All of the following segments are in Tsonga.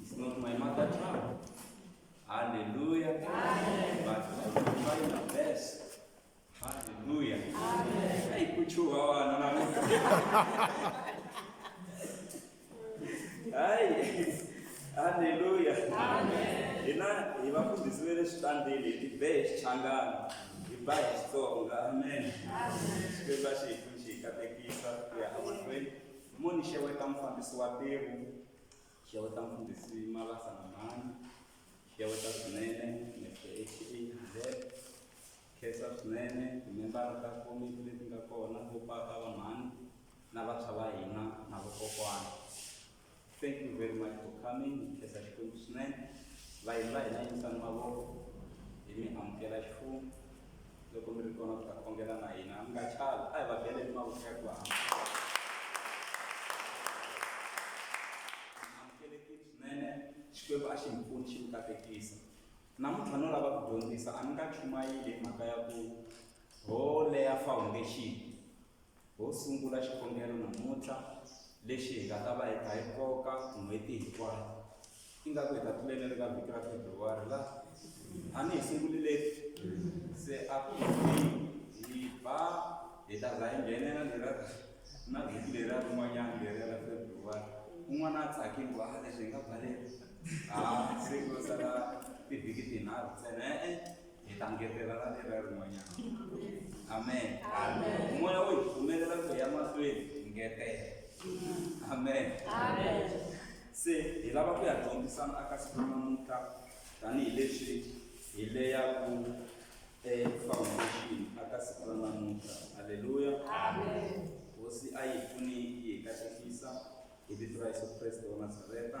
It's not my mother tongue. Hallelujah. But I will try my best. Hallelujah. Hey, kuchua wana na Mungu. Hai. Hallelujah. Ina ibafundisi vele switandile ibe xichangana iba hi Xitsonga. Amen. Xikwembu a xi hi pfuni xi hi katekisa ku ya emahlweni. Moni xeweta mufambisi wa ntirho. Xeweta mfundhisi Malasa na mhani. Xeweta swinene Mister HE Ndlele. Khensa swinene timembara ta komiti leti nga kona, vo papa, va mhani na vantshwa va hina na vokokwana. Thank you very much for coming, hi khensa Xikwembu swinene. Vayeni va hina yimisani mavoko, hi mi amukela ximfumo. loko mi ri kona ku ta khongela na hina mi nga chavi a hi va bele ni mavoko ya ku hamba amukelekile swinene xikwembu a xi hi pfuni xi mi katekisa namuntlha no lava ku dyondzisa a ni nga chumayile hi mhaka ya ku ho leya foundation Ho sungula xikhongelo namuntlha lexi hi nga ta va hi kha hi koka n'hweti hinkwayo. Ingaku hi ta tluleni ri ka vhiki ra February la? A ni hi sungulileni? Se a ku hi ba hi ta za hi nghenela lera na vhiki leriya rin'wanyana leriya ra February. Un'wana a tsakile ku a leswi hi nga baleka ha se ko sala tivhiki tinharhu ntsena e-e hi ta ngetelela ni ra rin'wanyana amen moya wo hi pfumelela ku ya mahlweni hi ngetela amen se hi lava ku ya dyondzisana aka siku ra namuntlha tanihileswi hi leyaku efoundation aka siku ra namuntlha halleluya hosi a yi pfuni yi hi katekisa hi vito ra yesu kreste wa nazareta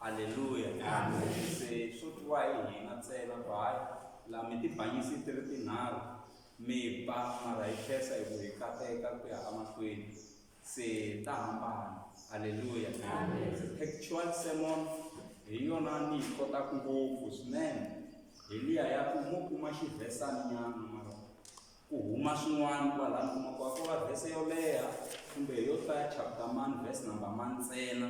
Haleluya. Amen. Se swo twa hi hina ntsena ku hayi la mi tibanyisi ti ri tinharhu mi ba mara hi khensa hi ku hi kateka ku ya emahlweni se ta hambana halleluya textual sermon hi yona ni yi kotaka ngopfu swinene hi liya ya ku mo kuma xivhesani nyana mara Ku huma swin'wana kwalano u kuma ku a ko va vhese yo leha kumbe hi yo hlaya chapter mani vhese number mani ntsena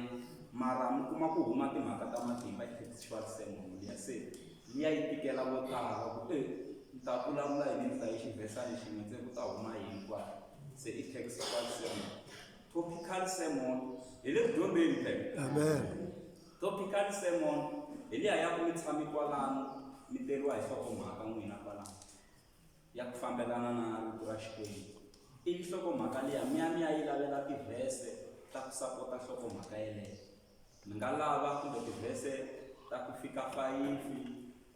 mara mi kuma ku huma timhaka ta matimba effectual sermon liya se liya yi tikela vo tala ku e ni ta vulavula yini ni hlaye xivhesani xin'we se ku ta huma yini kwala se i textual sermon topical sermon hi le ku dyondzeni phela amen topical sermon hi liya ya ku mi tshame kwalano mi teriwa hi nhlokomhaka n'wina kwalano ya ku fambelana na Rito ra Xikwembu, ivi nhlokomhaka liya mi ya mi ya yi lavela tivhese ta ku sapota nhlokomhaka yeleyo. Mi nga lava kumbe tivhese ta ku fika fayifi,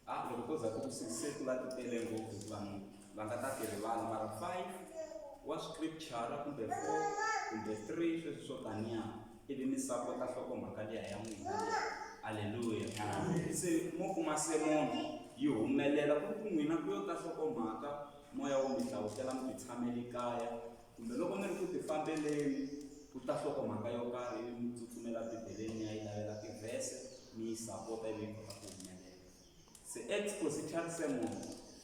a loko ko za ku ku six se ku va ti tele ngopfu hikuva vanhu va nga ta ti rivala, mara five wa scripture-a kumbe four kumbe three sweswi swo taniya. ivi mi sapota nhlokomhaka liya ya n'wina aleluya se mo kuma semono yi humelela ku ri ku n'wina ku yo ta nhlokomhaka moya wo mi hlawutela mi titshameli kaya kumbe loko mi ri ku tifambeleni ku ta nhlokomhaka yo karhi ivi mi tsutsumela bibeleni mi ya yi lavela tivhese mi yi sapota ivi yi kota ku humelela Se expositary sermon,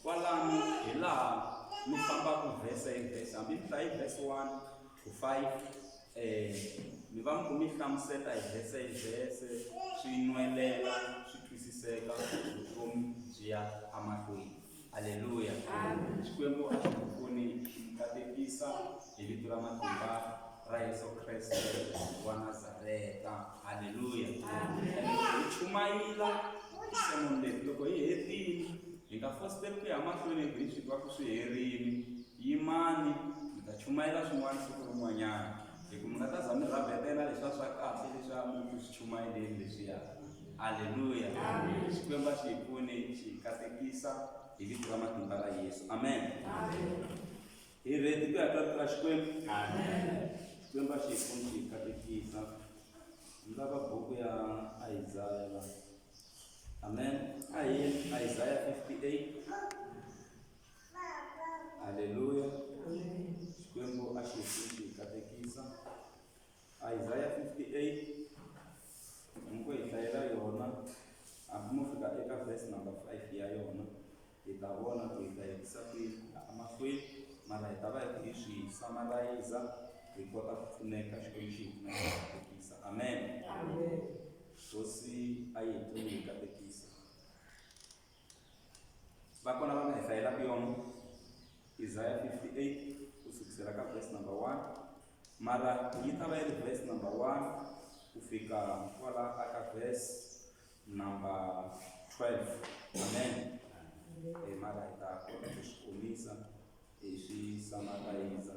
kwalano hi laha mi fambaka verse hi verse, hambi mi hlaye verse 1 to 5 eh, mi va mi ku mi hlamuseta hi verse hi verse swi nwelela swi twisiseka vutomi byi ya amahlweni. Haleluya. Xikwembu a xi ku pfuni xi ku katekisa hi vito ra matimba ra Yesu Kreste wa Nazareta. Haleluya. Hi chumayela tisemoni leti loko hi hetile hi nga fositeli ku ya mahlweni hi grini swi twa ku swi herile yimani mi ta chumayela swin'wana siku rin'wanyana hi ku mi nga ta za mi rhabetela leswa swa kahle leswa mi swi chumayeleni leswiya Haleluya. Amen. Xikwembu a xi hi pfuni xi hi katekisa hi vito ra matimba ra Yesu. Amen. Hi ready ku ya ka vito ra Xikwembu. Xikwembu a xi hi pfuni xi hi katekisa. Ni lava buku ya Isaya la. Amen. A hi yeni Isaya 58. Haleluya. Xikwembu a xi hi pfuni xi hi katekisa. Isaya 58 hambi ko hi hlayela yona hambi mo fika eka verse number 5 ya yona hi ta vona ku hi ta hetisa kwihi emahlweni mara hi ta va hi ku hi swi samarayiza hi kota ku pfuneka xikwembu xi hi pfunekisa amen hosi a yi hi pfuni hi katekisa va kona va nga hi hlayelaka yona isaya 58 ku sukisela ka verse number 1 mara yi ta va yi ri verse number 1 ku fika kwala a ka verse number 12 amen e mara hi ta kota ku swi komisa hi swi samarayiza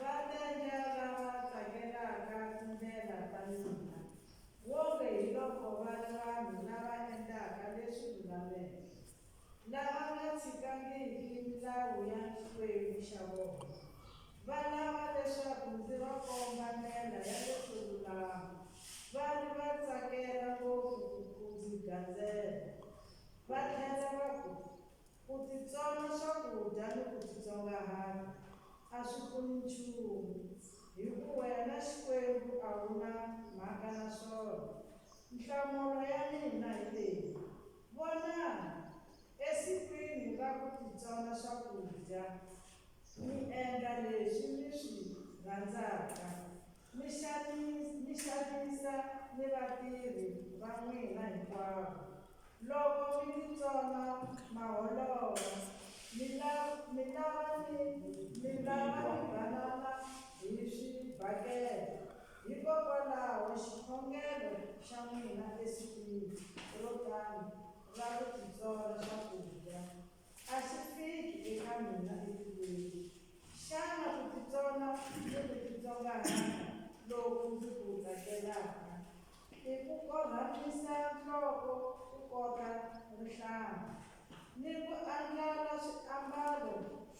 Vateja lava tsakelaka tindlela ta mina, wonge hi loko va ri vanhu lava endlaka leswi lulameke, lava nga tshikangiki milawu ya Xikwembu xa vona, va lava leswaku ndzi va komba ndlela ya leswo lulama, va ri va tsakela ngopfu ku ndzi gandzela, va tlhela va ku, Ku titsona swakudya ni ku titsongahata a swi pfuni nchumu, hi ku wena Xikwembu a wu na mhaka na swona. Nhlamulo ya mina hi leyi, Vonani, esikwini ra ku titsona swakudya, mi endla leswi mi swi rhandzaka. Mi xanisa, mi xanisa ni vatirhi va n'wina hinkwavo. Loko mi titsona maholova, mi la, mi lava ni, mi lava ni banana hi swibakele. Hikokwalaho xikhongelo xa n'wina esikwini ro tano ra ku titsona swakudya, A swi fiki eka mina etilweni. Xana ku titsona ni ku titsongahata loku ndzi ku tsakelaka i ku korhamisa nhloko ku kota rihlampfu ni ku andlala swiambalo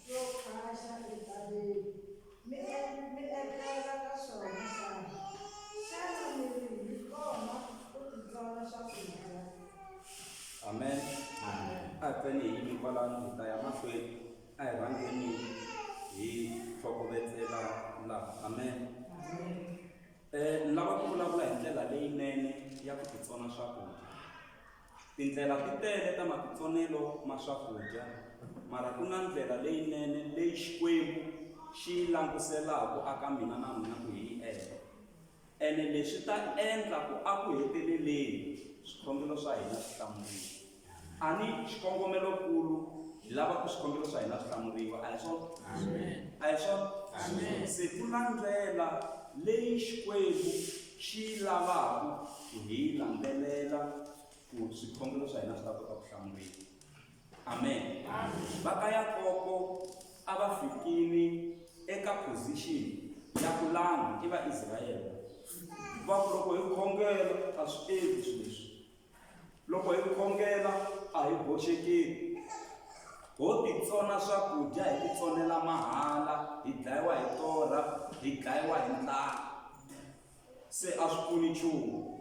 swo khwaxa entshaveni? Mi mi etlela ka swona xana? Xana mi ri hi kona ku titsona swakudya? Amen. Amen. A hi pfeni hi yimi kwalano hi ta ya mahlweni. A hi rhangeni hi tlhokovetsela laha. Amen. Amen. Eh, ni lava ku vulavula hi ndlela leyinene ya ku titsona swakudya. Tindlela ti tele ta matitsonelo ma swakudya, mara ku na ndlela leyinene leyi Xikwembu xi yi languselaku aka mina na n'wina ku hi yi endla. Ene leswi ta endla ku aku heteleleni swikhongelo swa hina swi hlamuriwa. Ani xikongomelo-kulu hi lava ku swikhongelo swa hina swi hlamuriwa, a hi swona? A hi swona? Se ku na ndlela leyi Xikwembu xi lavaka ku hi landzelela ku swikhongelo swa hina swi ta kota ku hlamuriwa amen va ka yakobo a va fikile eka position ya ku langa i vaisrayele va ku loko hi khongela a swi endli swilo leswi Loko hi khongela a hi boxekeni. Ho titsona swakudya hi titsonela mahala, hi dlayiwa hi torha, hi dlayiwa hi ndlala. Se a swi pfuni nchumu.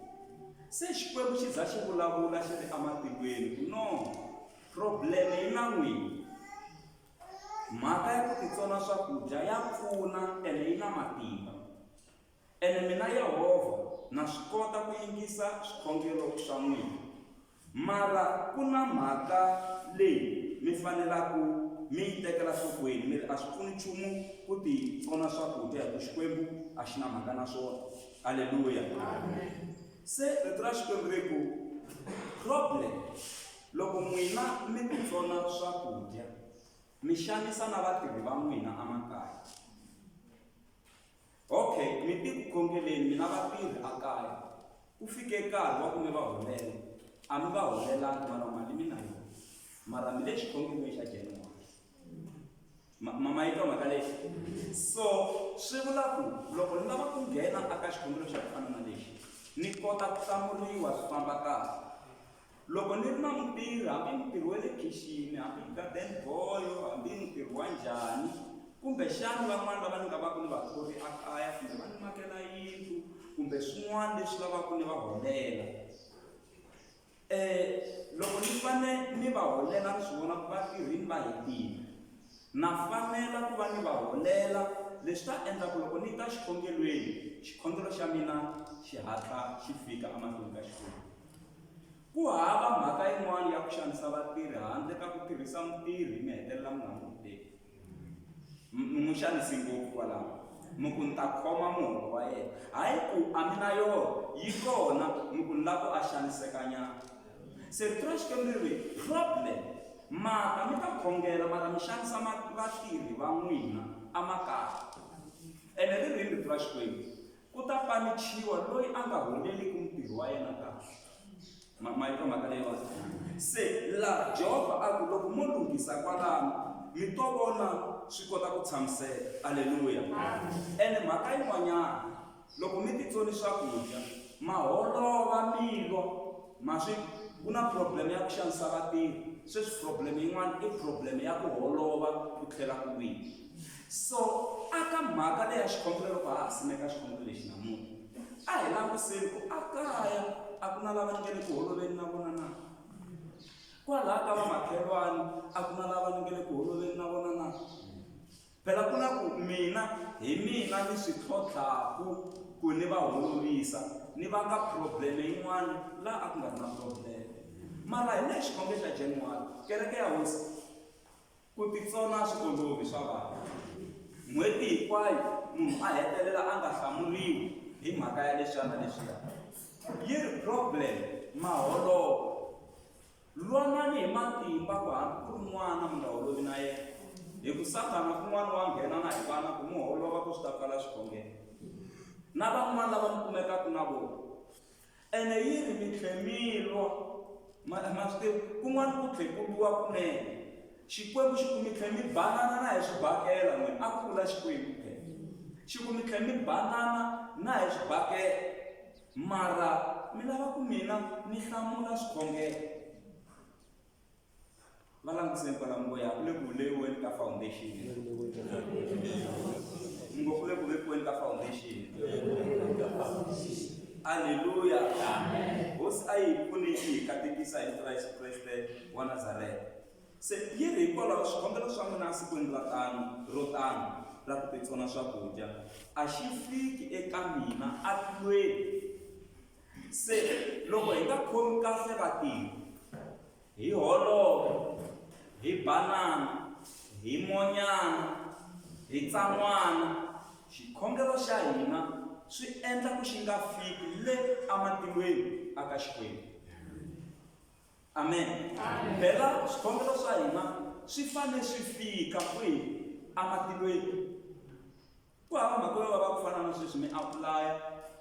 Se Xikwembu xi za xi vulavula xi ri ematilweni ku no, problem yi na n'wina. Mhaka ya ku titsona swakudya ya pfuna ene yi na matimba. Ene mina Yehovha na swi kota ku yingisa swikhongelo swa n'wina. Mara ku na mhaka leyi mi fanelaka mi yi tekela nhlokweni, mi ri, A swi pfuni nchumu ku titsona swakudya hi ku Xikwembu a xi na mhaka na swona. Aleluya! Se Rito ra Xikwembu ri ku, Problem loko n'wina mi titsona swakudya, mi xanisa na vatirhi va n'wina emakaya. Okay, mi ti ku khongeleni mina vatirhi a kaya. Ku fike nkarhi wa ku mi va holela. A mi va holelanga mara mali mi na yona. Mara mi le xikhongelweni xa January. Ma ma ma yi twa mhaka leyi? So swi vula ku loko ni lava ku nghena aka xikhongelo xa ku fana na lexi ni kota ku hlamuriwa swi famba kahle. Loko ni ri na mutirhi, hambi mutirhi wa le khixini, hambi garden boy, hambi mutirhi wa njhani, kumbexana van'wana lava ni nga va ku ni va thori ekaya kumbe va ni makela yindlu kumbe swin'wana leswi lavaka ni va holela. Loko ni fanele ni va holela ni swi vona ku va tirhile va hetile, na fanela ku va ni va holela leswi ta endla ku loko ni ta xikhongelweni, xikhongelo xa mina xi hatla xi fika emahlweni ka Xikwembu. Ku hava mhaka yin'wana ya ku xanisa vatirhi handle ka ku tirhisa mutirhi mi hetelela mi nga n'wi hoteli. M- Mi n'wi xanisi ngopfu kwalaho. Mi ku ni ta khoma muholo wa yena. Hayi ku a mi na yona, yi kona, mi ku ni lava ku a xanisekanyana. Se rito ra Xikwembu ri ri, problem, mata mi ta khongela mara mi xanisa ma- vatirhi va n'wina emakaya. Ene ri ri yini rito ra Xikwembu? Ku ta panichiwa loyi a nga huneleriki mutirhi wa yena kahle. Ma, ma yi twa mhaka leyiwani? Se laha Jehovha a ku, loko mo lunghisa kwalano, mi to vona swi kota ku tshamiseka. Aleluya! Ene mhaka yin'wanyana, loko mi titsoni swakudya, ma holova mi lwa, ma swi, ku na problem ya ku xanisa vatirhi, sweswi problem yin'wana i problem ya ku holova ku tlhela ku wina. So, a ka mhaka leya xigombela loko ha ha simeka xigombelo lexi namuntlha, a hi langutiseni ku ekaya a ku na lava ni nge le ku holoveni na vona na? Kwalaha ka vamakhelwani a ku na lava ni nge le ku holoveni na vona na? Phela ku na ku mina hi mina ni swi tlhotlhaku ku ni va holovisa, ni vanga probleme yin'wana laha a ku nga ri na probleme. Mara hi lehe xikhongeni xa January, kereke ya hosi, Ku titsona a swi olovi, swa vava. N'hweti hinkwayo munhu a hetelela a nga hlamuriwi hi mhaka ya leswiyana leswiya. Yi ri problem ma holova. Lwanani hi matimba ku hambi ku ri n'wana mi nga holovi na yena, hi ku Sathana kun'wana wa nghena na hi vana ku mi holova ku swi ta pfala swikhongelo. Na van'wana lava mi kumekaka na vona ene yi ri mi tlhe mi lwa ma ma swi tivi kun'wana ku tlhe ku lwiwa kunene xikwembu xi ku mi tlhe mi banana na hi swibakela n'wini a ku vula xikwembu xi ku mi tlhe mi banana na hi swibakela mara mi lava ku mina ni hlamula swikhongelo va langutiseni kwala mi ngo ya ku le ku vuleyiweni ka foundation mi ngo ku le ku vekiweni ka foundation aleluya hosi a yi pfune yi hi katekisa hi vito ra yesu kreste wa nazareta se yi ri hikwalaho swikombelo swa n'wina sikwini ra tano ro tano ra ku titsona swakudya a xi fiki eka mina a tlweni Se loko hi nga khomi kahle vatirhi, hi holova, hi banana, hi monyana, hi tsan'wana, xikhongelo xa hina swi endla ku xi nga fiki le ematilweni a ka Xikwembu. Amen. Phela swikhongelo swa hina swi fanele swi fika kwihi ematilweni? Ku hava mhaka yo vava ku fana na sweswi mi apulaya,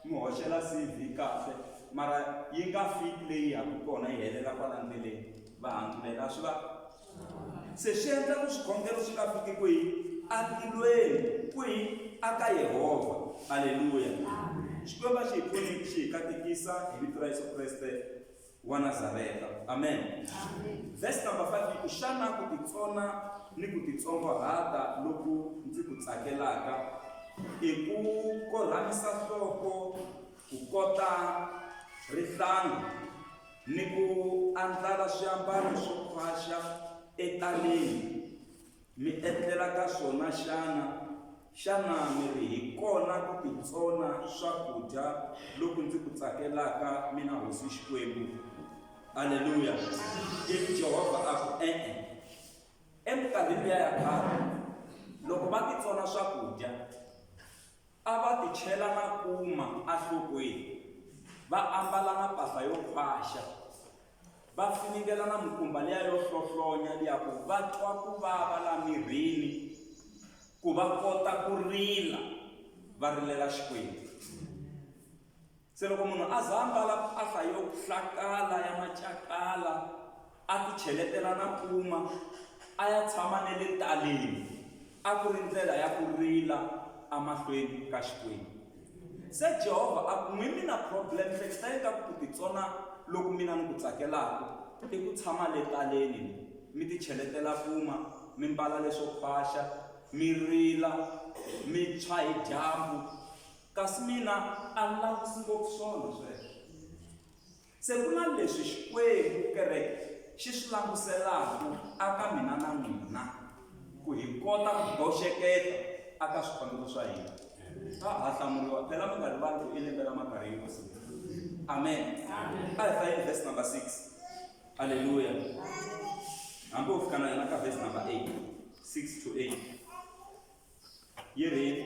mi hoxela CV kahle mara yi nga fiki leyi yaka kona yi helela kwala ndleleni. Va hangulela, a swi va se swi endla ku swikhongelo swi nga fiki kwihi? Entilweni. Kwihi? Aka Yehovha. Aleluya! Xikwembu a xi hi pfuni xi hi katekisa hi vito ra Yesu Kreste. wa Nazareta. Amen. Verse number 5 yi ku xana ku titsona ni ku titsongohata loku ndzi ku tsakelaka i ku korhamisa nhloko ku kota rihlanga ni ku andlala swiambalo swo khwaxa etaleni Mi etlela ka swona xana? Xana mi ri hi kona ku titsona swakudya loku ndzi ku tsakelaka, mina Hosi Xikwembu? Aleluya! Ivi Jehovha a ku, E-e. Eminkarhini liya ya khale, loko va titsona swakudya, a va tichela makuma enhlokweni, va ambala mapahla yo khwaxa, va finingela na mukumba liya yo hlohlonya liya ku va twa ku vava la mirini ku va kota ku rila va rilela xikwembu se loko munhu a za ambala mpahla yo hlakala ya macakala a ti cheletela na puma a ya tshama ne le taleni A ku ri ndlela ya ku rila emahlweni ka Xikwembu. Se Jehovha a ku, N'wi mina problem, hleketani ka ku ku titsona loku mina ni ku tsakelaku i ku tshama le taleni ni mi ti cheletela kuma, mi mbala leswo khwaxa, mi rila, mi tshwa hi dyambu, kasi mina a ni lavi ngopfu swona sweswo. Se ku na leswi Xikwembu, kereke, xi swi languselaku aka mina na n'wina, ku hi kota ku boxeketa aka swikhongelo swa hina. A ha hlamuriwa, phela mi nga rivali ku i lembe ra makarhi hi ku siku. Amen. A hi hlayeni verse number 6. Aleluya. Hambi ho fika na yona ka verse number 8, 6 to 8. Yi ri yini?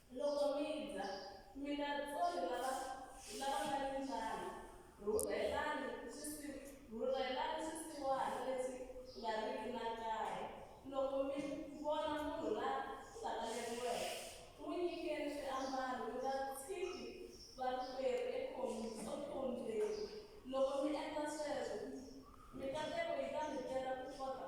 Loko mi dya, mi nga tsoni lava lava nga ni ndlala. Rhurhelani swisi rhurhelani swisiwana leswi nga riki na kaye. Loko mi vona munhu la sakaleriweke, n'wi nyikeni swiambalo, mi nga tshiki varikwerhu ekhom ekhombyeni. Loko mi endla sweswo, mikateko yi ta mi tela kukota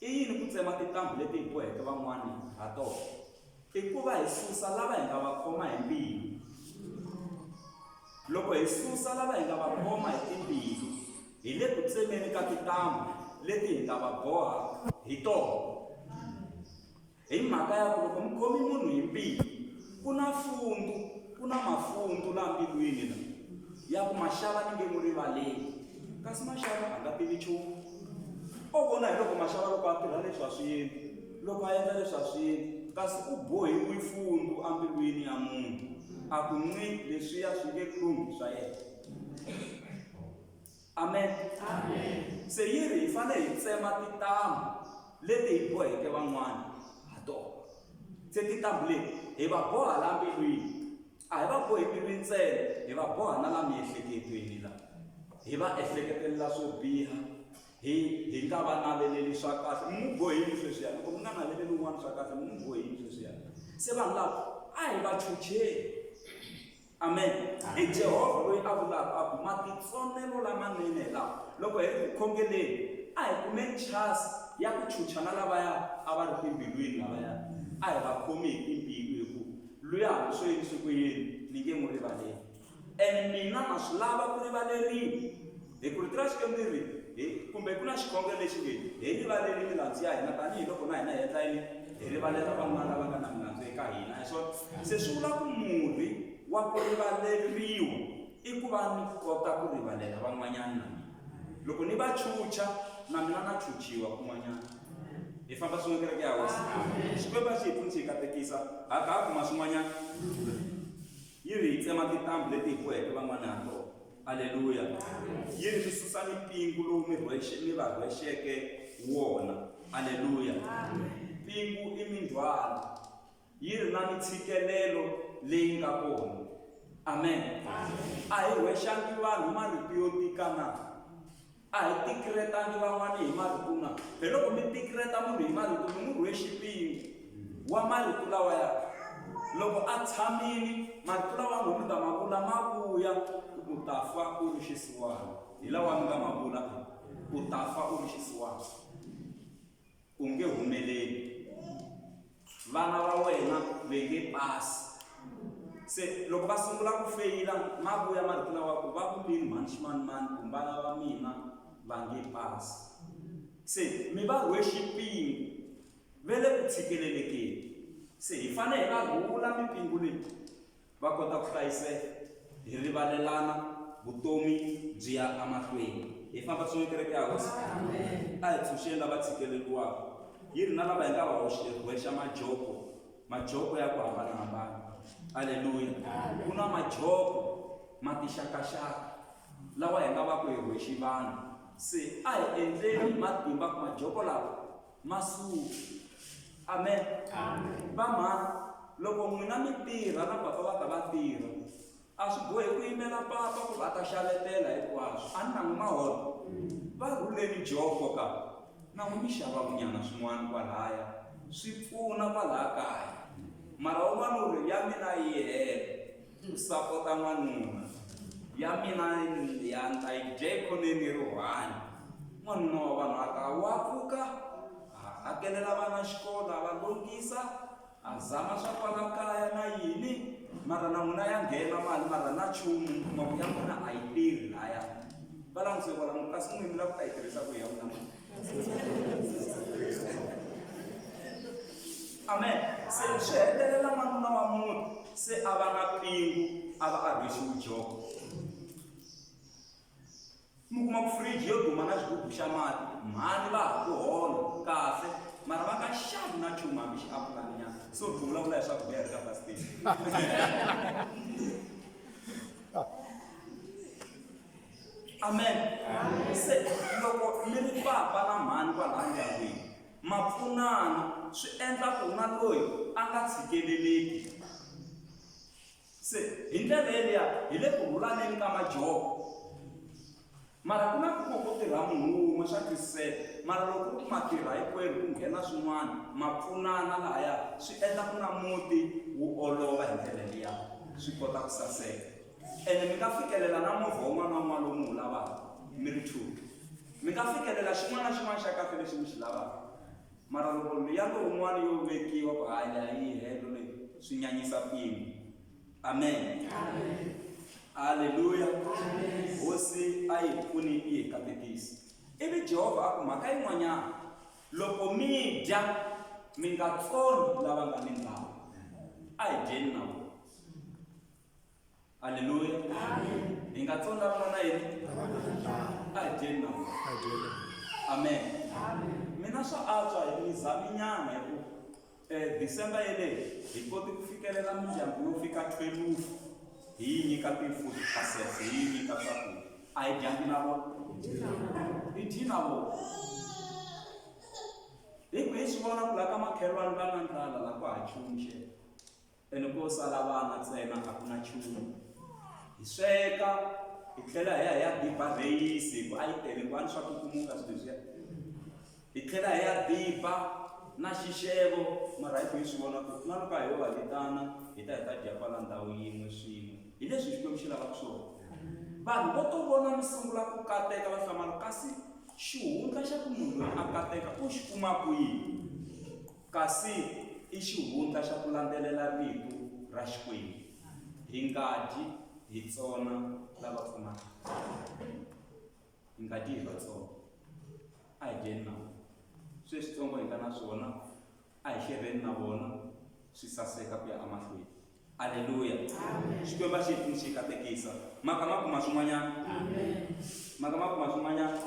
I yini ku tsema tintambu leti hi boheke van'wana ha tona? I ku va hi susa lava hi nga va khoma hi mbilu. Loko hi susa lava hi nga va khoma hi timbilu, hi le ku tsemeni ka tintambu leti hi nga va boha hi tona. Hi mhaka ya ku loko mi khomi munhu hi mbilu ku na fundu ku na mafundu laha mbilwini la ya ku maxava ni nge n'wi rivaleli kasi maxava a nga tivi nchumu o vona hi loko maxava loko a tirha leswi a swi yini loko a endla leswi a swi yini kasi u bohiwe fundu embilwini ya munhu a ku nci leswiya swi nge lunghi swa yena Amen. Se yi ri hi fanele hi tsema tintambhu leti hi boheke van'wana ha tona. Se tintambhu leti hi va boha la mbilwini. A hi va bohi mbilwini ntsena, hi va boha na la miehleketweni la. Hi va ehleketelela swo biha, hi hi nga va naveleli swa kahle. Mi n'wi bohe yini sweswiya? Loko mi nga naveleli un'wana swa kahle, mi n'wi bohe yini sweswiya? Se vanhu lava a hi va chucheni. Amen. I Jehovha loyi a vulaka a ku matitsonelo lamanene hi lawa, loko hi ri ku khongeleni a hi kume nchasi ya ku chucha na lavaya a va ri timbilwini lavaya, a hi va khomi hi timbilu hi ku, Luya hambi swo yini swi ku yini ni nge n'wi rivaleli, and mina na swi lava ku rivaleriwa. Hi ku ri ti na Xikwembu ri hi kumbe ku na xikhongelo lexi nge hi rivaleli milandzu ya hina tanihi loko na hina hi endla yini hi rivalela van'wana lava nga na milandzu eka hina hi swona se swi vula ku murhi wa ku rivaleriwa i ku va ni kota ku rivalela van'wanyana na mina loko ni va chucha na mina na chuchiwa kun'wanyana hi famba swin'we kereke ya hosi xikwembu a xi hi pfuni xi hi katekisa ha kha ha kuma swin'wanyana yi ri hi tsema tintambu leti hi boheke van'wana ha tona aleluya yini swi susa mipingu lowu mi rhwexe mi va rhwexeke wona aleluya mpingu i mindzhwalo yi ri na mitshikelelo leyi nga kona amen a hi rhwexangi vanhu marito yo tikana A hi tikiretangi van'wana hi marito na. Hi loko mi tikireta munhu hi marito mi n'wi rhwe xipingu wa marito lawa ya loko a tshamile marito lawa n'wi mi nga ma vula ma vuya u ta fa u ri xisiwana hi lawa mi nga ma vula u ta fa u ri xisiwana. u nge humeleli vana va wena ve nge pasi se loko va sungula ku feyila ma vuya ma ri ku na wa ku va ku lini mhani ximanimani ku mbala va mina va nge pasi se mi va rhwe xipingu ve le ku tshikelelekeni se hi fanele hi va rhula mipingu leyi va kota ku hlayiseka hi rivalelana vutomi byi ya emahlweni hi famba swin'we kereke ya hosi a hi tshunxeni lava tshikeleriwaka yi ri na lava hi nga va hoxewexa majoko majoko ya ku hambanahambana aleluya ku na majoko matixakaxaka lawa hi nga va ku hi hoxi vanhu se a hi endleni matimba ku majoko lawa Masuku. Amen. Amen. Vamhana, loko n'wina mi tirha na papa va ta va tirha. A swi bohi ku yimela papa ku va ta xavetela hinkwaswo. A ni na n'wi maholo. Va rhuleni joko ka. Na n'wi mi xava vunyana swin'wana kwalaya. Swi pfuna kwalaya kaya. Mara un'wana u ri ya mina yi hela. Ku sapota n'wanuna. Ya mina ya ni ta yi dye ekhoneni ri one. N'wanuna wa vanhu a ta wa pfuka, a hakelela vana xikolo, a va lunghisa, a zama swa kwala kaya na yini, mara na n'wina ya nghena mali mara na nchumu mi kuma ku ya n'wina a yi tirhi lahaya. Va langutise kwala, kasi n'wini mi lava ku ta yi tirhisa kwihi ya n'wina mali? amen se swi hetelela n'wanuna wa munhu se a va na pingu a va a rhwexiwi joko mi kuma ku fridge yo duma na xigubu xa mati mhani va ha ku hola kahle mara va nga xavi na nchumu hambi xi apulaninyana so ri vulavula hi swakudya hi ri ka bastation Amen. Se loko mi ri papa na mhani kwalaya ndyangwini, ma pfunana swi endla ku na loyi a nga tshikeleleki. Se hi ndlela yeliya hi le ku rhulaneni ka majoko. Mara ku na ku ku ku tirha munhu wun'we swa twisiseka, mara loko ku ri ku ma tirha hinkwerhu ku nghena swin'wana ma pfunana lahaya swi endla ku na muti wu olova hi ndlela liya swi kota ku saseka. ene mi nga fikelela na movha wun'wana na wun'wana lowu mi wu lavaka mi ri two mi nga fikelela xin'wana na xin'wana xa kahle lexi mi xi lavaka mara loko liya lowun'wana yo vekiwa ku hayi leyi a yi helo leyi swi nyanyisa mpimo amen halleluya hosi a yi pfuni yi hi katekisi ivi jehovha a ku mhaka yin'wanyana loko mi dya mi nga tsoni lava nga ni ndlala a hi dyeni na vona Haleluya. Hi nga tsona vona na yini? A hi dyeni na vona. Amen. Mina swa antswa hi mizaminyana hi ku eh, December yeleyi hi koti ku fikelela mindyangu yo fika 12 hi yi nyika ti-food parcels, hi yi nyika swakudya. A hi dyangi na vona. Hi dyi na vona. Hi ku hi swi vona ku laha ka makhelwani va na ndlala laha ku ha chumu xexe. Ene ko sala vana ntsena a ku na nchumu. Hi sweka, hi tlhela hi ya hi ya diba rheyisi hi ku a yi tele kwani swa kukumuka swilo leswiya. Hi tlhela hi ya diba na xixevo mara hi ku hi swi vona ku na loko a ho va vitana hi ta hi ta dya kwala ndhawu yin'we swin'we. Hi leswi Xikwembu xi lavaka swona. Vanhu vo to vona mi sungula ku kateka va hlamala kasi xihundla xa ku munhu loyi a kateka u xi kuma kwihi? Kasi i xihundla xa ku landzelela Rito ra Xikwembu, hi nga dyi hi tsona lava pfumalaka. Hi nga dyi hi vatsongo. A hi dyeni na vona. Sweswitsongo hi nga na swona, a hi xerheni na vona, swi saseka ku ya emahlweni. Aleluya! Xikwembu a xi hi pfuni xi hi katekisa. Ma ka ma kuma swin'wanyana? Ma ka ma kuma swin'wanyana?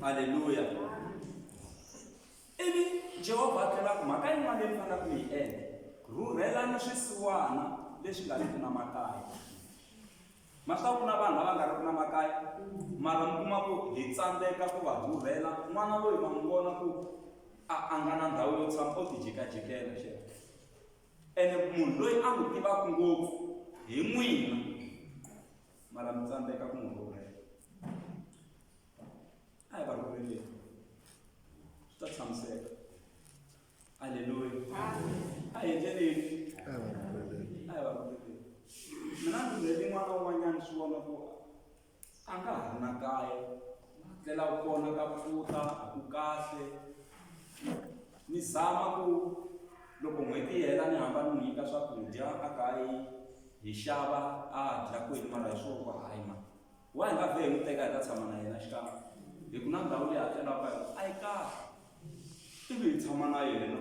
Aleluya! Ivi Jehovha a tlhela a ku, Mhaka yin'wana leyi mi nga na ku yi endla, Rhurhelani swisiwana leswi nga riki na makaya. Ma swi tiva ku na vanhu lava nga riki na makaya, mara mi kuma ku hi tsandzeka ku va rhurhela. N'wana loyi ma n'wi vona ku a a nga na ndhawu yo tshama, o tijikajikela xana. Ene munhu loyi a n'wi tivaka ngopfu hi n'wina, mara mi tsandzeka ku n'wi rhurhela. a hi va rhuleleni swi ta tshamiseka aleluya a hi endleleni a hi va rhuleleni mina ndzi byele n'wana un'wanyana swi vona ku a nga ha ri na kaya ndlela ku kona ka pfuta a ku kahle ni zama ku loko n'hweti yi hela ni hamba ni n'wi nyika swakudya a kayi hi xava a dya kwini mara hi swo ku hayi mhaka Wa hi nga vhe hi n'wi teka hi ta tshama na yena xikan'we hi ku na ndhawu leyi hakelaka ka yona a yi kahle ivi hi tshama na yena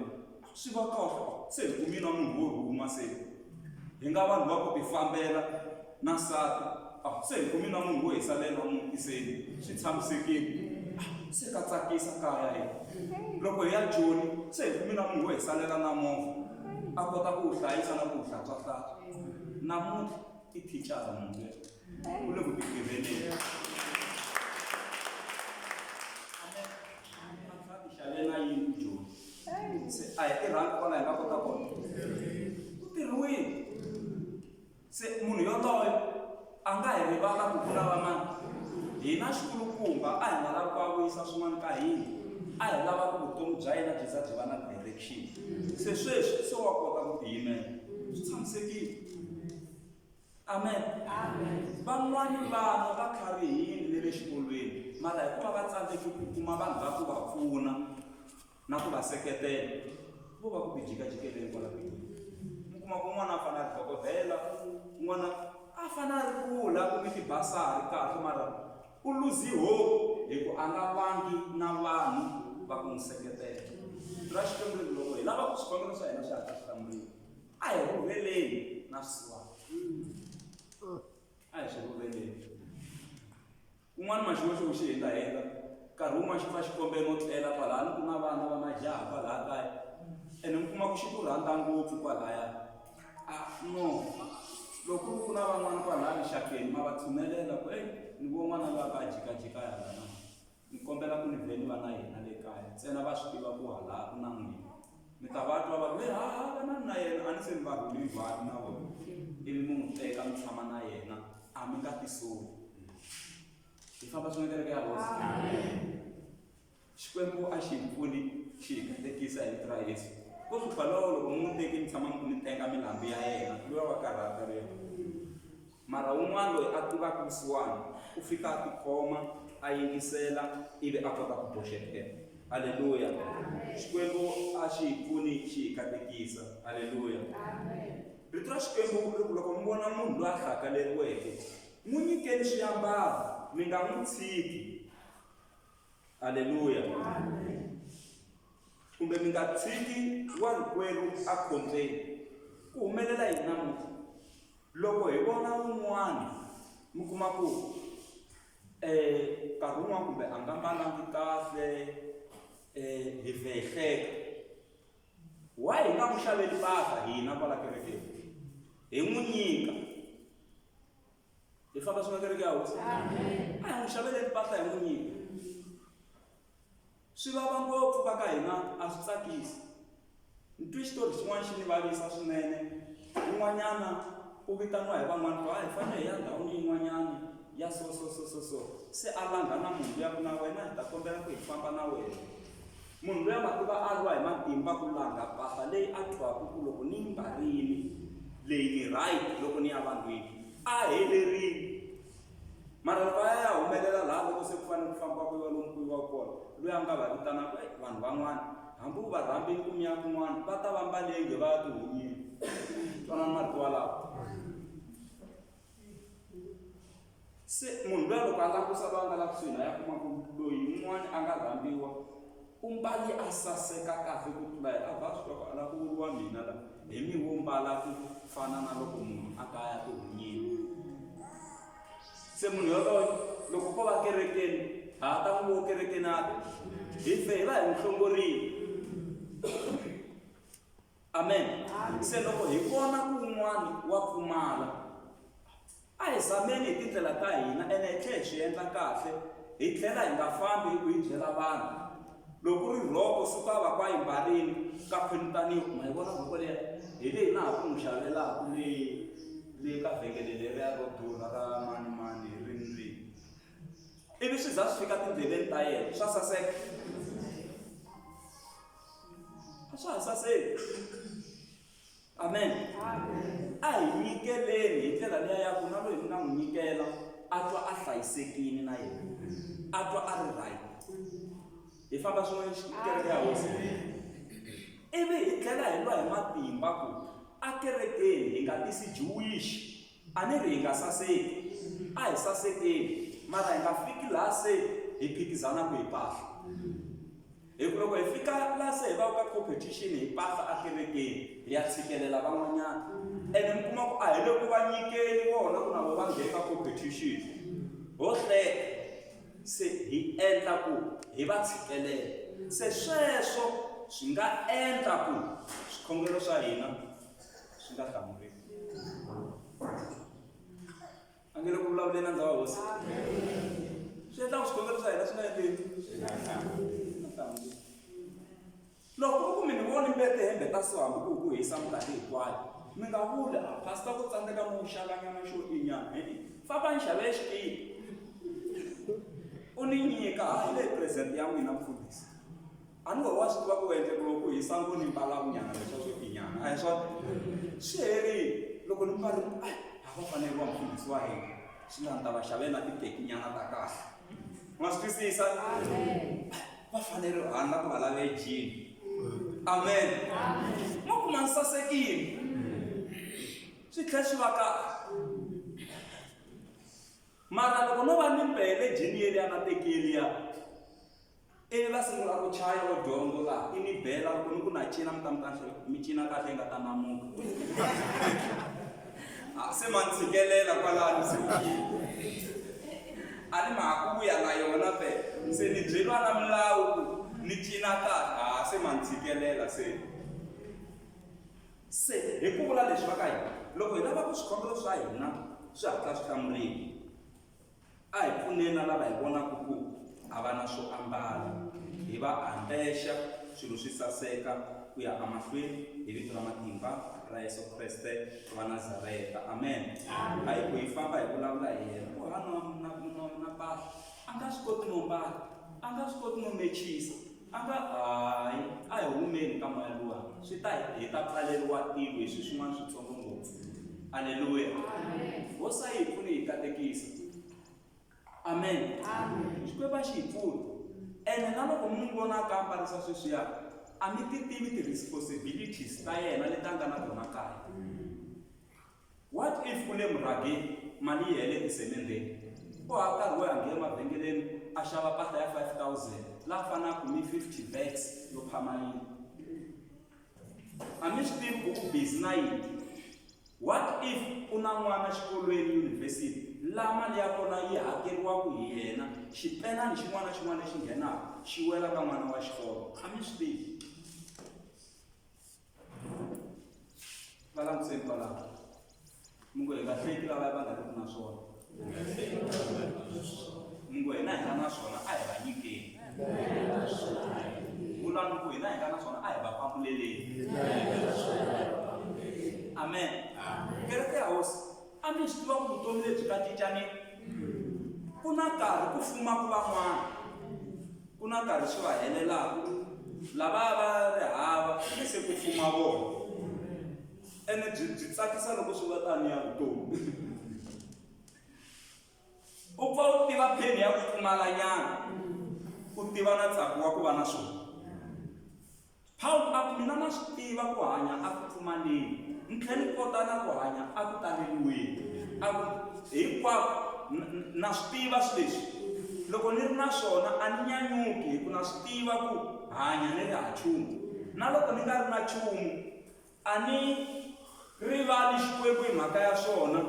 swi va kahle se hi kumi na munhu wo rhuma se hi nga vanhu va ku tifambela na nsati a se hi kumi na munhu wo hi salela muti se swi tshamisekile se ka tsakisa kaya hi loko hi ya joni se hi kumi na munhu wo hi salela na movha a kota ku wu hlayisa na ku wu hlantswahlantswa namuntlha i thicara munhu Ule kutigevelela. xavela yini joni se a hi tirhangi kwala hi nga kota kona ku tirhiwile se munhu yoloyo a nga hi rivala ku ku lava mani hina xikulukumba a hi nga lavi ku a vuyisa swin'wana ka hina a hi lava ku vutomi bya yena byi za byi va na direction se sweswi se wa kota ku tiyimela swi tshamisekile amen van'wana vana va kharihile ni le xikolweni mara hikuva va tsandzeki ku kuma vanhu va ku va pfuna na ku va seketela vo va ku ti jikajikeleni kwala mi kuma ku n'wana a fana a ri dokodela n'wana a fana a ri kula ku mi tibasari kahle mara u luzi hope hi ku a nga vangi na vanhu va ku n'wi seketela ra xikwembu loko hi lava ku swivangelo swa hina swi hatla swi hlamuriwa A hi rhuveleni na swisiwana. A hi swi rhuveleni. Kun'wana maxiwexe wu xi hindahindha. Nkarhi wun'wana xi pfa xi kombe no tlela kwalano ku na vana va majaha kwalaya kaya. Ene mi kuma ku xi ku rhandza ngopfu kwalaya. A no, loko ku ri ku na van'wana kwalaya rixakeni ma va tshunelela ku, heyi ni vona n'wana loyi a kha a jikajika hala na. Ni kombela ku ni beliwa na yena le kaya, ntsena va swi tiva ku halaa ku na n'wina. Mi ta va twa va ku, Heha, vanani na yena, a ni se mi va rhula hinkwavo na vona, ivi mi n'wi teka mi tshama na yena, a mi nga tisoli. Hi famba swin'we kereke ya Hosi? Xikwembu a xi hi pfuni xi hi katekisa hi vito ra Yesu. Ko hlupha lowo loko mi n'wi teke mi tshama mi ku mi tenga milambu ya yena, luya wa karhata luya. Mara wun'wana loyi a tivaka vusiwana u fika a tikhoma, a yingisela ivi a kota ku boxetela. Haleluya! Xikwembu a xi hi pfuni xi hi katekisa. Haleluya! Rito ra Xikwembu ri ku loko mi vona munhu loyi a hlakaleriweke, n'wi nyikeni swiambalo, mi nga n'wi tshiki. Haleluya! Kumbe mi nga tshiki warikwerhu ekhombyeni. Ku humelela yini namuntlha? Loko hi vona un'wana mi kuma ku nkarhi wun'wana kumbe a nga mbalanga kahle hi vhe hi hleka why hi nga n'wi xaveli mpahla hina kwala kerekeni hi n'wi nyika hi famba swi nga kereke ya hosi a hi n'wi xaveleni mpahla hi n'wi nyika Swi vava ngopfu va ka hina a swi tsakisi. Ntwi xitori xin'wana xi ni vavisa swinene. Un'wanyana u vitaniwa hi van'wana ku a hi fanele hi ya ndhawini yin'wanyana ya so so so so so se a langha na munhu luya ku na wena hi ta kombela ku hi famba na wena. Munhu luya ma tiva a lwa hi matimba ku langha mpahla leyi a twaka ku loko ni yi mbarile leyi ni right loko ni ya vanhwini a helerile. Marhambu a ya ya humelela laha loko se ku fanele ku fambiwa ku yiwa lomu ku yiwaka kona, loyi a nga va vitanaka, e, vanhu van'wana, hambi u va rhambile ku mi ya kun'wana, va ta va mbale inge va ya tihunyile. Twanani marito walawo. Se munhu luya loko a langusa loyi a nga laha kusuhi na yena, a kuma ku loyi un'wana a nga rhambiwa, U mbale a saseka kahle ku tlula hina. Ba swi loko a lava ku vuriwa mina la, hi mi wo mbala ku fana na loko munhu a ta ya tihunyini. Se munhu yoloye loko ko va kerekeni, ha ha ta n'wi vona kerekeni a ta. Hi fe hi va hi n'wi hlongorile. amen se loko hi vona kun'wana wa pfumala a hi zameni hi tindlela ta hina ene hi tlhela hi swi endla kahle hi tlhela hi nga fambi hi ku yi byela vanhu loko ri rhoko suka va kwa yimbarini ka khwinitaniwa ma yi vona rhoko leya hi leyi na ha ku n'wi xavelaka leyi leyi ka vhengele leriya ro durha ra mani mani hi rini rini ivi swi za swi fika tindleleni ta yena swa saseka a swa ha saseki amen a hi nyikeleni hi ndlela leya ya ku na loyi mi nga n'wi nyikela a twa a hlayisekile na yena a twa a ri right hi famba swin'wana xikereke ya hosi ivi hi tlhela hi lwa hi matimba ku akerekeni hi nga tisi jewish A ni ri hi nga saseki. A hi sasekeni, mara hi nga fiki laha se hi phikizana ku hi pahla. Hi ku loko hi fika laha se hi va ka competition hi pahla ekerekeni, hi ya tshikelela van'wanyana. Ene mi kuma ku a hi le ku va nyikeni vona ku na vona va nghene ka competition. Ho hleka, se hi endla ku hi va tshikelela. Se sweswo swi nga endla ku swikhongelo swa hina. swi nga hlamuriwi a nge le ku vulavuleni na ndhawu hosi swi endlaku swikombelo swa hina swi nga endleni swi nga hlamuriwi loko ku ri ku mi ni voni mbete hembe ta so hambi ku ku hisa minkarhi hinkwayo mi nga vuli a pastor ku tsandzeka mi wu xavanyana xo inyana hi famba ni xave xikipa u ni nyika ha yi leyi present ya n'wina mfundhisi a ni wehe wa swi tiva ku endle ku loko ku hisa ngo ni mbala vunyana leswa swo tinyana a hi swona swi herile loko ni mbali a ha va fanele wa mfundhisi wa hina swi nga ni ta va xavele na titekinyana ta kahle ma swi twisisa va fanele hani na ku va lave jini amen ma ku ma ni sasekile swi tlhe swi va kahle mara loko no va ni mbele jini yeliya na tekeliya Ivi va sungula ku chaya vo dyongo va i mi bela loko mi ku na cina mi ta mi kahle mi cina kahle yi nga ta namuka a ah, se ma ni tshikelela kwalano se a ni ma ha ku vuya na yona fe se ni byeriwa na milawu ku ni cina kahle a ah, se ma ni tshikelela se se hi ku vula leswi va ka hina loko hi lava ku swikhongelo swa hina swi hatla swi hlamuriwa A hi pfuneni na lava hi vonaka ku a va na swo ambala, hi va ambexa swilo swi saseka ku ya emahlweni, hi vito ra matimba ra Yesu Kreste wa Nazareta. Amen. A hi ku hi famba hi vulavula hi yena, ku hava na na na na mpahla a nga swi koti no mbala, a nga swi koti no mechisa. A nga hayi, a hi humeni ka moya luwa, swi ta hi ta pfaleriwa tilo hi swi swin'wana switsongo ngopfu. Aleluya! Hosi a yi hi pfune hi katekisa. Amen. Xikwembu a xi hi pfune. Ene na loko mi n'wi vona a kambarisa sweswiya, a mi ti tivi ti-responsibilities ta yena leti a nga na tona kaya. What if u le murhageni mali yi hele esemendeni? U hava nkarhi wo ya nghena emavhengeleni a xava mpahla ya 5000 la fanaka ni 50 bags yo phama yini? A mi swi tivi ku u busy na yini? What if u na n'wana xikolweni, yunivhesiti, la mali ya kona yi hakeriwaka hi yena, xipenani xin'wana na xin'wana lexi nghenaka xi wela ka n'wana wa xikolo? A mi swi tivi. va langutiseni kwalaho mi ngo hi nga hleki lava va nga ri ku na swona mi ngo hina hi nga na swona a hi va nyikeni vulani ku hina hi nga na swona a hi va pambuleleni amen kereke ya hosi A mi swi tiva ku vutomi lebyi nga cinca ni ku na nkarhi ku fuma ku van'wana ku na nkarhi swi va helelaka lava va ri hava ni se ku fuma vona ene byi byi tsakisa loko swi va tani ya vutomi u pfa u tiva pheni ya ku pfumalanyana u tiva na ntsako wa ku va na swona Pawulo a ku, Mina na swi tiva ku hanya a ku pfumaleni, ni tlhela ni kota na ku hanya a ku taleriweni. A ku, Hinkwako na swi tiva swi leswi. Loko ni ri na swona a ni nyanyuki hi ku na swi tiva ku hanya ni ri ha chumu. Na loko ni nga ri na chumu A ni rivali Xikwembu hi mhaka ya swona,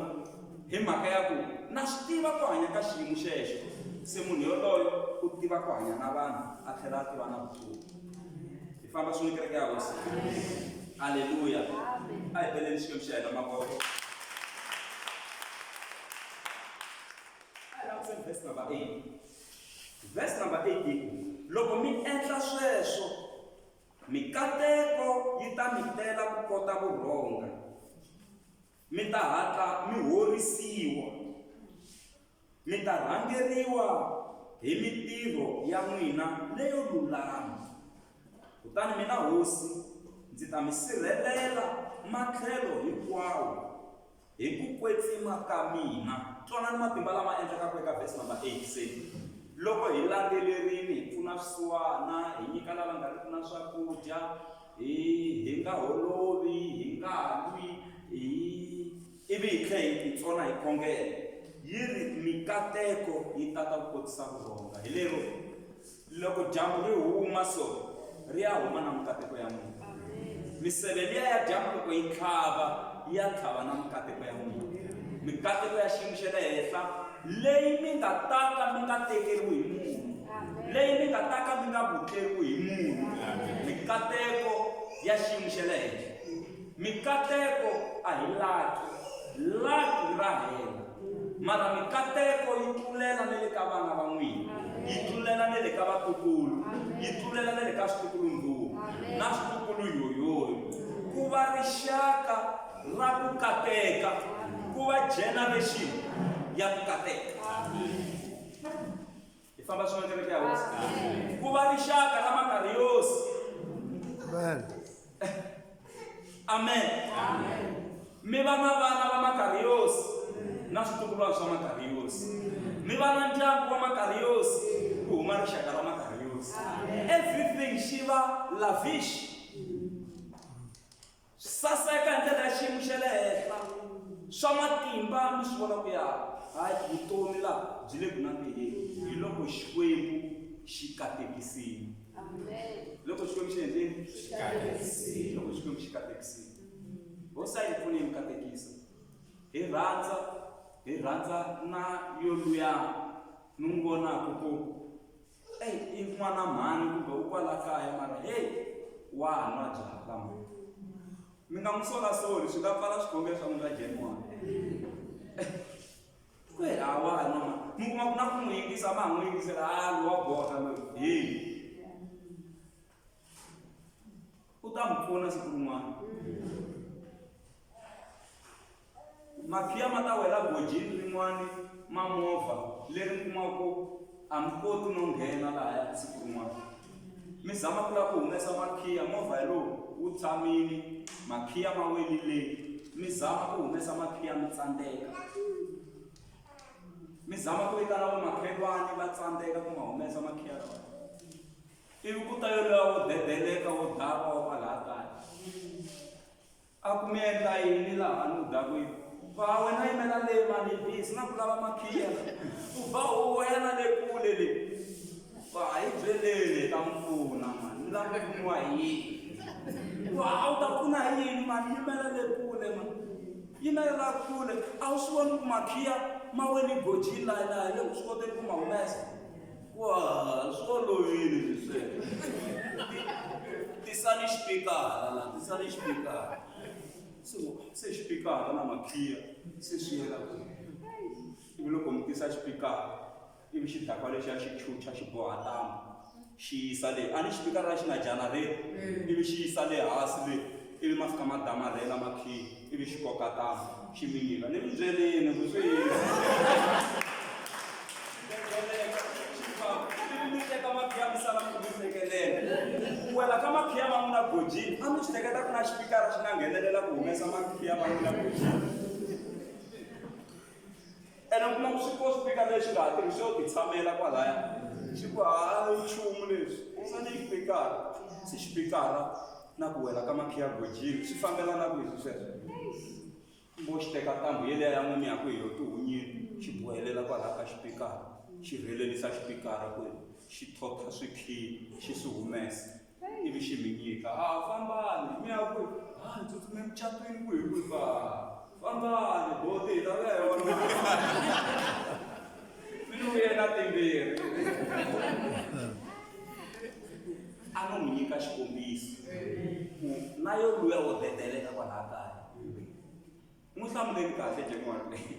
hi mhaka ya ku na swi tiva ku hanya ka xiyimo xexo. Se munhu yoloyo u tiva ku hanya na vanhu a tlhela a tiva na vutomi. Hi famba swin'we kereke ya Hosi. Aleluya! A hi beleni Xikwembu xa hina mavoko. A hi langutiseni verse number 8. Verse number 8 yi ku, Loko mi endla sweswo, Mikateko yi ta mi tela ku kota ku rhonga, mi ta hatla mi horisiwa, mi ta rhangeriwa hi mitirho ya n'wina leyo lulama, kutani mina Hosi ndzi ta mi sirhelela matlhelo hinkwawo. Hi ku kwetsima ka mina. Twanani matimba lama endlekaka eka vhesi namba 8, Se loko hi landzelerile, hi pfuna swisiwana, hi nyika lava nga riki na swakudya, hi, hi nga holovi, hi nga lwi, hi, ivi hi tlhela hi titsona hi khongela, yi ri, Mikateko yi tata ku kotisa vurhonga. Hi lero. loko dyambu ri huma so ri ya huma na mikateko ya n'wina miseve liya ya dyambu loko yi tlhava yi ya tlhava na mikateko ya n'wina mikateko ya xiyimo xa le henhla leyi mi nga taka mi nga tekeriwi hi munhu leyi mi nga taka mi nga vutleriwi hi munhu mikateko ya xiyimo xa le henhla Mikateko a hi laki, laki ra hela. Mara mikateko yi tlulela na le ka vana va n'wina, yi tlulela na le ka vatukulu, yi tlulela na le ka switukulu-ndhuwa na switukulu-yoyoyo. Ku va rixaka ra ku kateka, ku va generation ya ku kateka. Hi famba swin'we kereke ya hosi. Ku va rixaka ra makariyosi. Amen. Amen. Amen. Mi va na vana va makariyosi na switukulwana swa makariyosi. Mi va na ndyangu wa makariyosi ku huma rixaka ra makariyosi. Everything xi va lavish. Swi saseka hi ndlela ya xiyimo xa le henhla, swa matimba mi swi vona ku ya hayi vutomi laha byi le ku nandziheni hi loko Xikwembu xi katekisile. Loko Xikwembu xi endleni loko Xikwembu xi katekisile. Hosi a yi pfune yi mi katekisa hi rhandza hi rhandza na yoluyani ni n'wi vonaka ku Eyi i n'wana mhani kumbe u kwala kaya mara heyi wa nwa byala ma mi nga n'wi solasoli swi nga pfala swikhongelo swa n'wina jeniwana ku hi a wa nwa ma mi kuma ku na ku n'wi yingisa ma ha n'wi yingisela a lowa borha loyi heyi u ta mi pfuna siku rin'wana makhiya ma ta wela gojini rin'wani ma movha leri mi kumaka ku a mi koti no nghena lahaya siku rin'wana mi zama ku lava ku humesa makhiya movha hi lowu wu tshamile makhiya ma welile mi zama ku humesa makhiya mi tsandzeka mi zama ku vitana vamakhelwani va tsandzeka ku ma humesa makhiya lawa Ivi ku ta yoloya wo debeleka wo dakwa wa kwalaha kaya. A ku mi endla yini laha ni ku dakwini? Ba wena yimela le mani bi sina ku lava makhiya. Ku ba huwa ya na le kule le. Ba hi byeleni ta mi pfuna mani ni lava ku pfuniwa hi yini? Wa a wu ta pfuna hi yini mani yimela le kule mani. Yimela la kule a wu swi voni ku makhiya ma wele gojini laha laha le u swi koteni ku ma humesa. Wa swi olovile swesweswo. Tisani xipikara la, tisani xipikara. So se xipikara na makhiya se swi yela ku. Ivi loko mi tisa xipikara, ivi xidakwa lexiya xi chucha xi boha ntambu xi yisa le. A ni xipikara xi na janareta, ivi xi yisa le hansi le. ivi ma fika ma damarhela makhiyi ivi xi koka tama xi mi nyika ni mi byelini ku swi yini wela ka makhiya ma n'wina gojini a mi swi teketa ku na xipikara xi nga nghenelela ku humesa makhiya ma n'wina gojini ene u kuma ku swi ko swi fika lexi nga ha tirhisi yo titshamela kwalaya xi ku ha nchumu leswi se ni xipikara se xipikara na ku wela ka makhiya gojini swi fambelana ku leswi sweswo mbo xi teka ntambu yeleya ya n'wini ya ku hi yo tihunyini xi bohelela kwalaya ka xipikara xi rhelelisa xipikara ku xi thotha swikhiyi xi swi humesa ivi xi mi nyika a fambani mi ya ku a ni tsutsume mucatwini ku hi ku ba fambani boti hi lava ya yona mi ni vuyela timbirhi a no n'wi nyika xikombiso ku na yo luya wo dedeleka kwalaha kaya N'wi hlamuleni kahle Jemona leyi.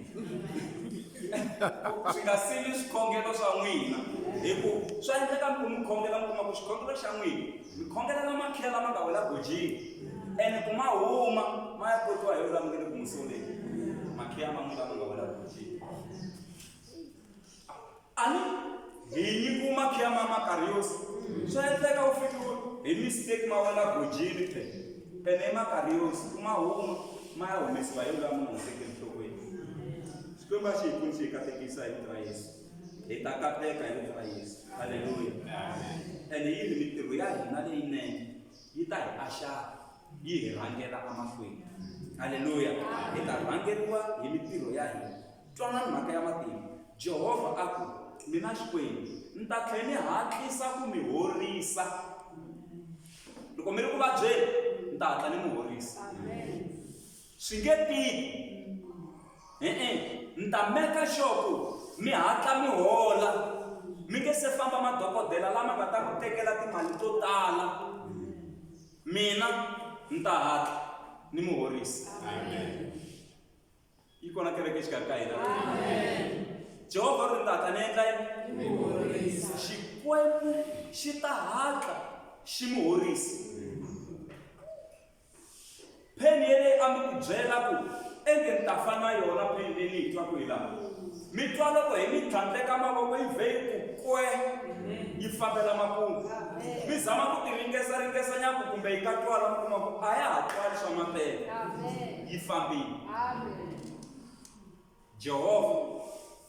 Swi nga sili swikhongelo swa n'wina hi ku swa endleka mi ku mi khongela mi kuma ku xikhongelo xa n'wina mi khongela la makhela lama nga wela gojini ene ku ma huma ma ya kotiwa hi lulamukele ku musoleni makhela ma n'wina lama nga wela gojini Ani hi nyiku makhya ma Makariyosi. Swa endleka u fikiwe hi mistake ma wena gojini phe. Pene i Makariyosi, ku ma huma, ma ya humesiwa hi loyi a mi nga n'wi teki enhlokweni. Xikwembu a xi hi pfuni xi hi katekisa hi vito ra Yesu. Hi ta kateka hi vito ra Yesu. Haleluya. Ene yi ri mitirho ya hina leyinene yi ta hi axaka, yi hi rhangela emahlweni. Haleluya. Hi ta rhangeriwa hi mitirho ya hina. Twanani mhaka ya matimu. Jehovha a ku, Mina Xikwembu, ni ta tlhela ni hatlisa ku mi horisa. Loko mi ri ku vabyeni, ni ta hatla ni mi horisa. Swi nge tiki. E-e, ni ta meka sure ku mi hatla mi hola mi nge se famba madokodela lama nga ta mi tekela timali to tala. Mina ni ta hatla ni mi horisa. Amen. yi kona kereke exikarhi ka hina jehovha ri ta ta ni endla yini xikwembu xi ta hatla xi mi horisa pheni yeleyi a mi ku byela ku enge ni ta fa na yona pheni leyi ni yi twaku hi laha Mi twa loko hi mi tlhandleka mavoko yi vhe yi ku kwe yi fambela makungu. Mi zama ku tiringesa ringesa nyaku kumbe yi ka twala mi kuma ku a ya ha twali swa mapele yi fambile. Jehovha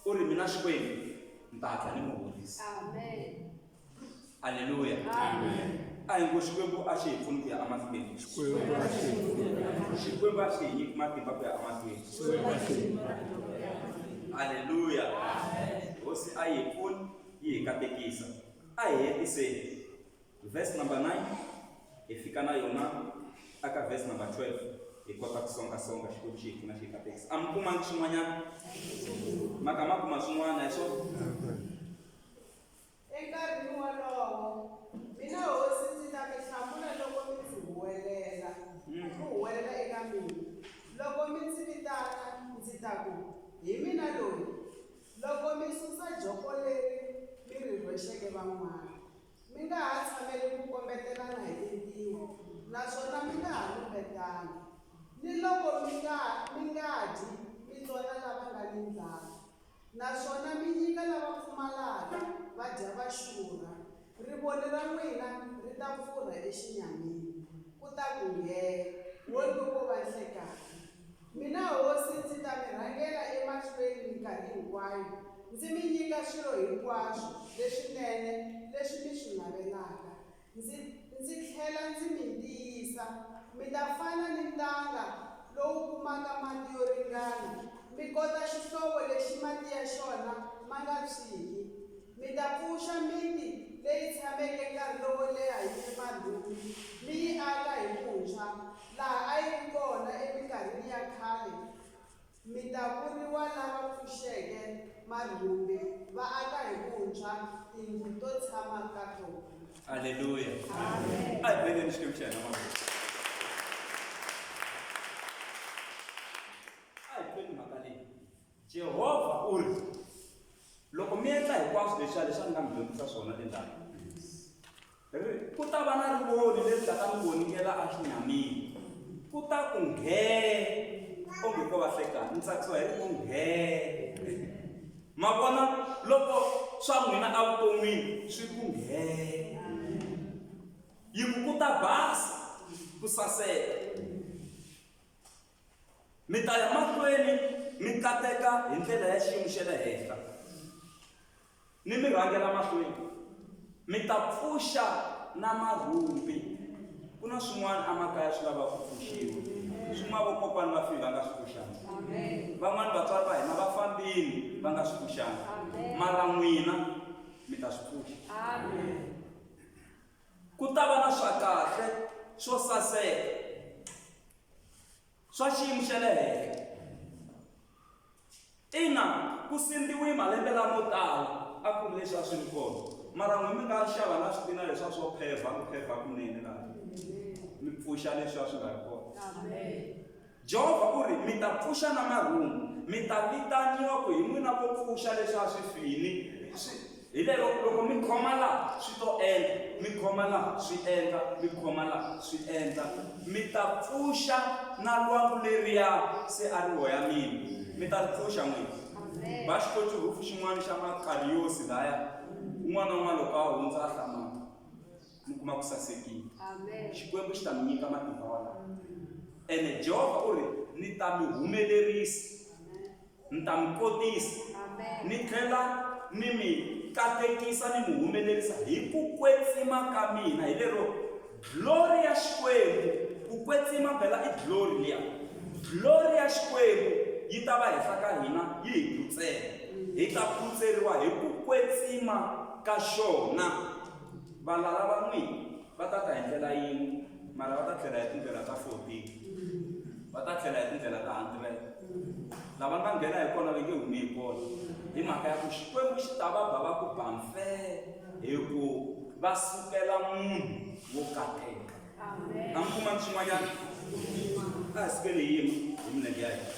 u ri mina Xikwembu ni ta hatla ni mi horisa. aleluya a hi ngo xikwembu a xi hi pfuni ku ya emahlweni xikwembu a xi hi nyiki matimba ku ya emahlweni aleluya hosi a yi hi pfuni yi hi katekisa a hi hetiseni verse number 9 hi fika na yona aka verse number 12 hi kota ku songasonga xikwembu xi hi pfuna xi hi katekisa a mi kumangi swin'wanyana maka ma kuma swin'wana hi swona Enkarhini wolowo, mina hosi ndzi ta mi hlamula loko mi ndzi huwelela, mi huwelela eka mina. Loko mi ndzi vitana, ndzi ta ku, Hi mina loyi! Loko mi susa joko leri mi ri rhwexeke van'wana, mi nga ha tshameli ku kombetelana hi tintiho naswona mi nga ha lumbetani, niloko mi nga mi nga dyi mi tsona lava nga ni ndlala. Naswona mi nyika lava pfumalaka, va dya va xurha, rivoni ra n'wina ri ta pfurha exinyamini, ku ta ku nghee, wonge ko va nhlekani. Mina hosi ndzi ta mi rhangela emahlweni minkarhi hinkwayo, ndzi mi nyika swilo hinkwaswo leswinene leswi mi swi navelaka, Ndzi, ndzi tlhela ndzi mi tiyisa, mi ta fana ni ntanga lowu kumaka mati yo ringana, mi kota xihlovo lexi mati ya xona ma nga phyiki. Mi ta pfuxa miti leyi tshameke nkarhi lowo leha yi ri marhume, mi yi aka hi vuntshwa, laha a yi ri kona eminkarhini ya khale, Mi ta vuriwa lava pfuxeke marhumbi, va aka hi vuntshwa tindlu to tshama ka tona. Haleluya. Amen. A hi beleni Xikwembu xa hina mavoko. A hi tweni mhaka leyi. Jehovha u ri, loko mi endla hinkwaswo leswiya leswi a ni nga mi dyondzisa swona le ndhawini, Ri, ku ta va na rivoni leri nga ta n'wi vonikela exinyamini. Ku ta ku nghee, onge ko va hlekani, ni tsakisiwa hi ku nghee. Ma vona loko swa n'wina evuton'wini swi ku nghee. Yi ku ku ta basa, ku saseka. Mi ta ya mahlweni mi kateka hi ndlela ya xiyimo xa le henhla. Mi mi rhangela mahlweni, mi ta pfuxa na marhumbi. Ku na swin'wana emakaya swi lava ku pfuxiwa, swin'wana vokokwani va file va nga swi pfuxanga, van'wana vatswari va hina va fambile va nga swi pfuxanga, mara n'wina mi ta swi pfuxa. Ku ta va na swa kahle swo saseka. swa xiyimo xa le henhla ina ku sindziwi malembe lamo tala a ku ri leswi a swi ri kona mara n'wi mi nga xava na switina leswiya swo phevha ku phevha kunene laha mi pfuxa leswiya swi nga ri kona jehovha u ri mi ta pfuxa na marhumbu mi ta vitaniwa ku hi n'wina vo pfuxa leswiya swi fini Hi lero loko mi khoma laha swi to endla, mi khoma laha swi endla, mi khoma laha swi endla, mi ta pfuxa na lwangu leriya se a ri hoya mina, mi ta ri pfuxa n'wina. Va xi koti rhufu xin'wana xa makariyosi laya, un'wana na un'wana loko a hundza a hlamaka mi kuma ku sasekile. Xikwembu xi ta mi nyika matimba walawo. Ene Jehovha u ri, Ni ta mi humelerisa. Ni ta mi kotisa, ni tlhela ni mi katekisa ni mi humelerisa hi ku kwetsima ka mina, hi lero glory ya Xikwembu, ku kwetsima phela i glory liya, glory ya Xikwembu yi ta va henhla ka hina yi hi phutsela, hi ta phutseriwa hi ku kwetsima ka xona. Valala va n'wina va ta ta hi ndlela yin'we. mara va ta tlhela hi tindlela ta 14 va ta tlhela hi tindlela ta 100 lava nga nghena hi kona va nge humi hi kona hi mhaka ya ku xikwembu xi ta va ba va ku bamfee hi ku va sukela munhu wo kateka a mi kuma swin'wanyana a hi sukele hi yima hi milenge ya hina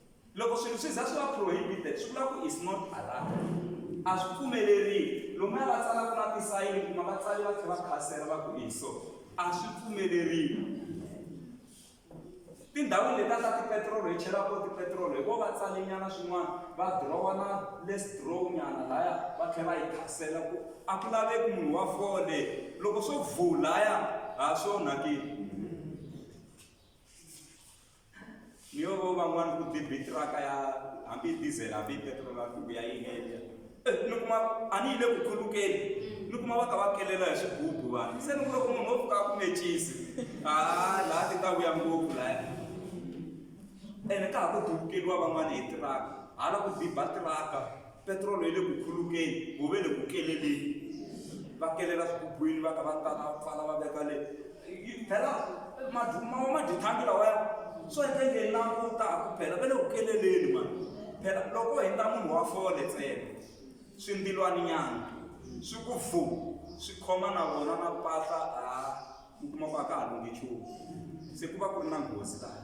loko swilo swi za swi va prohibited swi vula ku is not allowed a swi pfumeleriwi lomuya va tsalaka na tisayini kuma va tsali va tlhela va khasela va ku iso a swi pfumeleriwi tindhawini leti a ta tipetirolo hi chelaka tipetirolo hi vo va tsalinyana swin'wana va dirowa na les drow nyana laya va tlhela va yi khasela ku a ku laveki munhu wa fole loko swo vulaya ha swo nakile ni yo vo van'wana ku byi bitiraka ya hambi diesel hambi petrol hambi ya yi endla ni kuma a ni yi le ku khulukeni ni kuma va ka va kelela hi swigubu vanhu se ni ku loko munhu wo pfuka a ku mecisi a laha ti ta vuya ngopfu laya ene ka ha ku dubukeliwa van'wana hi tiraka hala ku biba tiraka petirolo yi le ku khulukeni wu ve le ku keleleni va kelela swigubuwini va ka va tala pfala va veka le phela mawa madithangi lawaya swo endle nge langutaku phela va le ku keleleni mani phela loko hi ta munhu wa fole ntsena swindilwani nyana swi ku vu swi khoma na vona na pahla a mi kuma ku a ka ha lunge nchumu se ku va ku ri na nghozi laha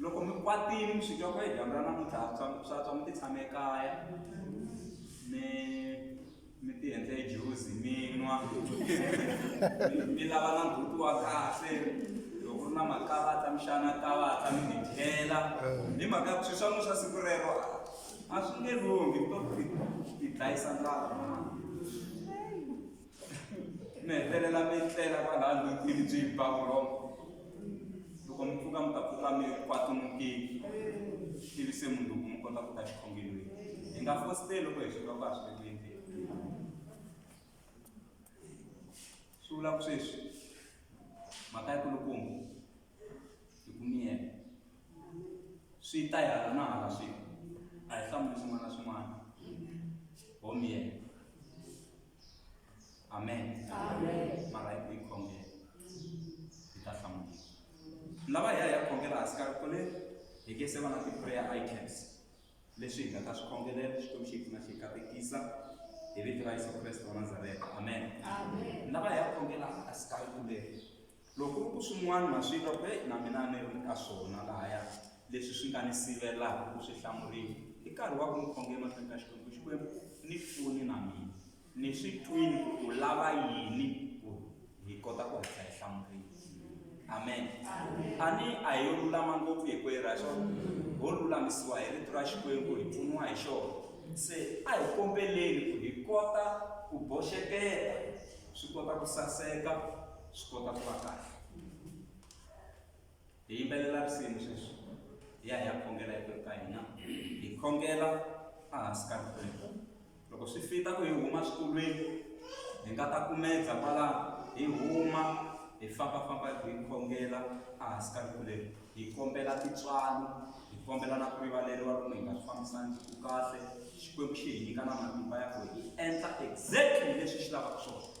loko mi kwatile mi swi twa ku e dyambu ra namuntlha swa swa tswa mi ti tshame ekaya mi mi ti endle juzi mi nwa mi lava na buti wa kahle loko ri na makalata mi xana kalata mi ti dyela hi mhaka swi swa n'wi swa siku rero a swi nge lunghi mi to ti dlayisa ndlala mi hetelela mi tlela kwalaya ndutini byi ba vurhongo loko mi pfuka mi ta pfuka mi kwatumukile ivi se munhu loko mi kota ku ta xikhongelweni hi nga fositeli loko hi swilo ku a swi veki endleni swi vula ku sweswi mhaka ya kulukumba hi ku miyela swi ta hi hala na hala swilo a hi hlamuli swin'wana na swin'wana ho miyela amen Amen. mara hi ku yi khongela yi ta hlamuriwa lava hi ya hi ya khongela hansi ka rito leri hi ke se va na ti-prayer items leswi hi nga ta swi khongelela xikwembu xi hi pfuna xi hi katekisa hi vito ra yesu kreste wa nazareta amen Amen. lava hi ya khongela hansi ka rito leri Loko ku ri ku swin'wana na swi twa ku heyi na mina a ni ri ka swona lahaya leswi swi nga ni sivelaka ku swi hlamuriwa i nkarhi wa ku ni khonge emahlweni ka Xikwembu Xikwembu ni pfuni na mina ni swi twini ku u lava yini ku hi kota ku hatla hi hlamuriwa amen a ni a hi yo lulama ngopfu hi kweyi ra xona ho lulamisiwa hi rito ra Xikwembu hi pfuniwa hi xona se a hi kombeleni ku hi kota ku boxeketa swi kota ku saseka swi kota ku va kahle hi yimbelela risimu sweswi hi ya hi ya khongela hi ka hina hi khongela ehansi ka rikwembu loko swi fita ku hi huma swikolweni hi nga ta kumedza kwala hi huma hi fambafamba hi khongela ehansi ka rikuleni hi kombela tintswalo hi kombela na ku rivaleriwa loko hi nga swi fambisangi ku kahle xikwembu xi hi nyika na matimba ya ku hi endla exactly leswi xi lavaka swona